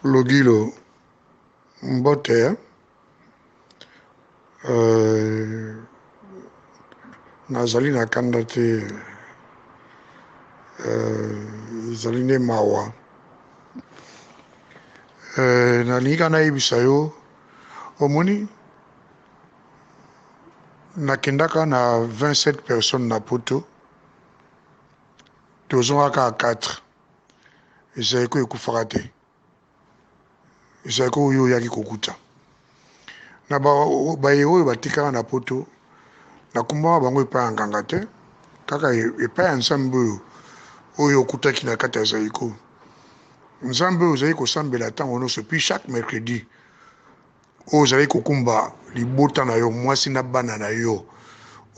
Logilo, mbote. Euh, nazali na kanda te euh, ezali nde mawa euh, nalingi ka nayebisa yo omoni nakendaka na 27 personnes na poto tozongaka 4 Zaiko ekufaka te. Zaiko oyo oyaki kokuta na baye oyo batikala na poto nakumbaka bango epai ya nganga te kaka epai ya nzambe oyo oyo okutaki na kati ya zaiko nzambe oyo ozali kosambela ntango nyonso puis chaque mercredi oyo ozali kokumba libota na yo mwasi na bana na yo oyo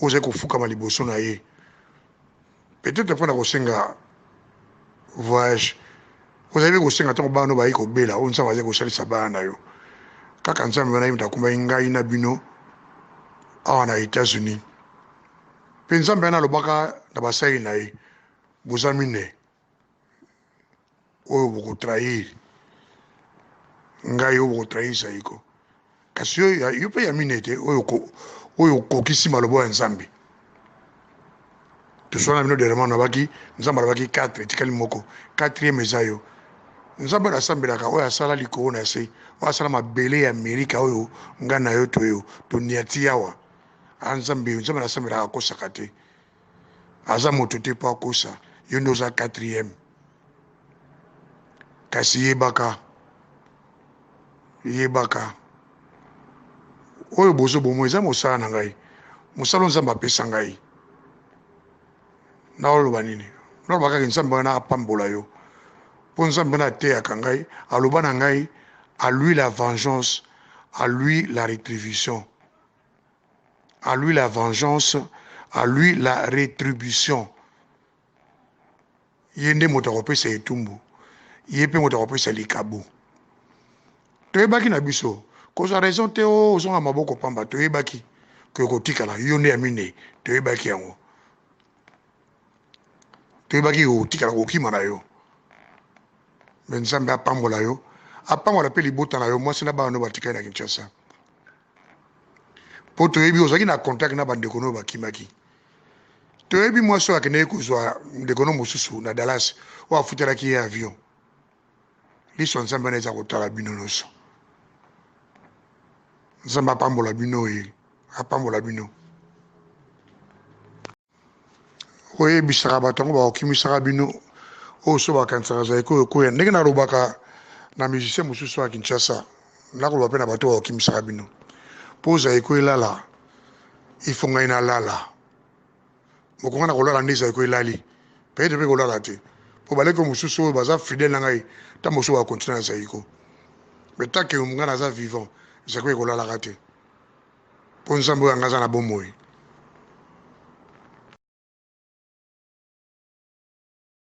ozali kofukama liboso na ye peut-être mpo na kosenga voyage ozali mpe kosenga ntango bana bayi kobela oyo nzambe azali kosalisa bana na yo kaka nzambe wana ye moto akumaki ngai na bino awa na états-unis mpe nzambe wana alobaka na basali na ye boza mine oyo boko trahir ngai oyo boko trahir saiko kasi yo yo mpe ya mine te oyo oyo okokisi maloba ya nzambe toswana bino derema nabaki nzambe alobaki 4 etikali moko 4 eza yo nzambe oyo asambelaka oyo asala likolo na se oyo asala mabele ya amerika oyo ngai na yo toyo toniati yawa a ah, nzambe nzambe nasambelaka akosaka te aza moto te mpo akosa yo nde oza quatrième kasi yebaka yebaka oyo bozo bomo eza mosala na ngai mosala nzambe apesa ngai naoloba nini naloba kaka nzambe wana apambola yo mpo nzambe wana ateyaka ngai aloba na ngai à lui la vengeance à lui la rétribution à lui la vengeance à lui la retribution ye nde moto akopesa etumbu ye mpe moto akopesa likabo toyebaki na biso kozwa raison te o oh, ozonga maboko pamba toyebaki ke kotikala yo nde ya minei toyebaki yango toyebaki kotikala kokima na yo me nzambe apambola yo apambola mpe libota na yo mwasi na bana no batikali na kinshasa mpo toyebi ozalaki na contact na bandeko no bakimaki toyebi mwasi oyo akendaki kozwa ndeko no mosusu na dallas oyo afutelaki ye avion liso nzambe wana eza kotala bino nyonso nzambe apambola bino ye apambola bino oyebisaka bato yango bakokimisaka bino oyo so bakanisaka zaiko ekoya ndenge nalobaka na musicien mosusu ya kinshasa nakoloba mpe na bato bakokimisaka bino mpo zaiko elala ifo ngai nalala mokonga na kolala nde zaiko elali pete mpe kolala te mpo baleko mosusu oyo baza fidèle na ngai ntango mosusu bakontina na zaiko mais tanke ngai naza vivant zaiko ekolalaka te mpo nzambe oyo anga aza na bomoi